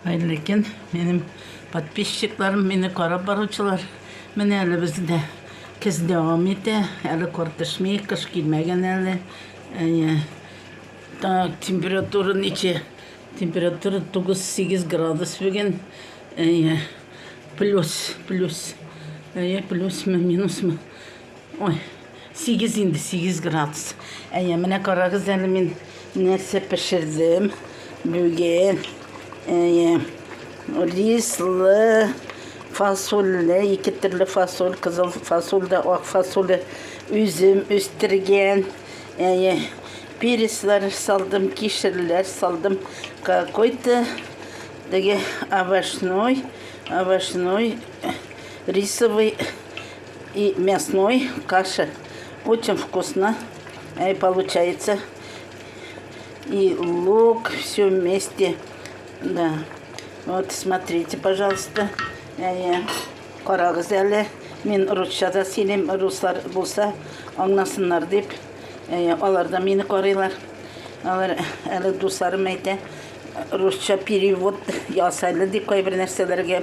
Хәерле көн, минем подписчикларым, мине карап баручылар. Менә әле бездә кез дәвам итә, әле кар төшми, кыш килмәгән әле. Әйе. Так, температура ничә? Температура 9-8 градус бүген. Әйе. Плюс, плюс. Әйе, плюсмы, минусмы? Ой, сигез инде, сигез градус. Әйе, менә карагыз әле мин нәрсә пешердем бүген. Әйе, рислы фасольле, ике төрле фасоль, кызыл фасоль да, ак фасоль, үзем үстергән. Әйе, переслар салдым, кишерләр салдым. Какой-то теге овощной, овощной рисовый И мясной каша. Очень вкусно э, получается. И лук, все вместе. Да. Вот, смотрите, пожалуйста. Э, Карагыз әле. Мин русча да сөйлим, руслар булса, аңласыннар дип. Э, алар да мине карыйлар. Алар әле дусларым әйтә, русча перевод ясайлы дип кайбер нәрсәләргә.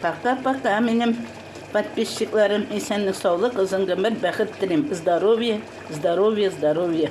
Пока пока минем подписчикларым исәнлек саулык озын гомер бәхет телим здоровье здоровье здоровье.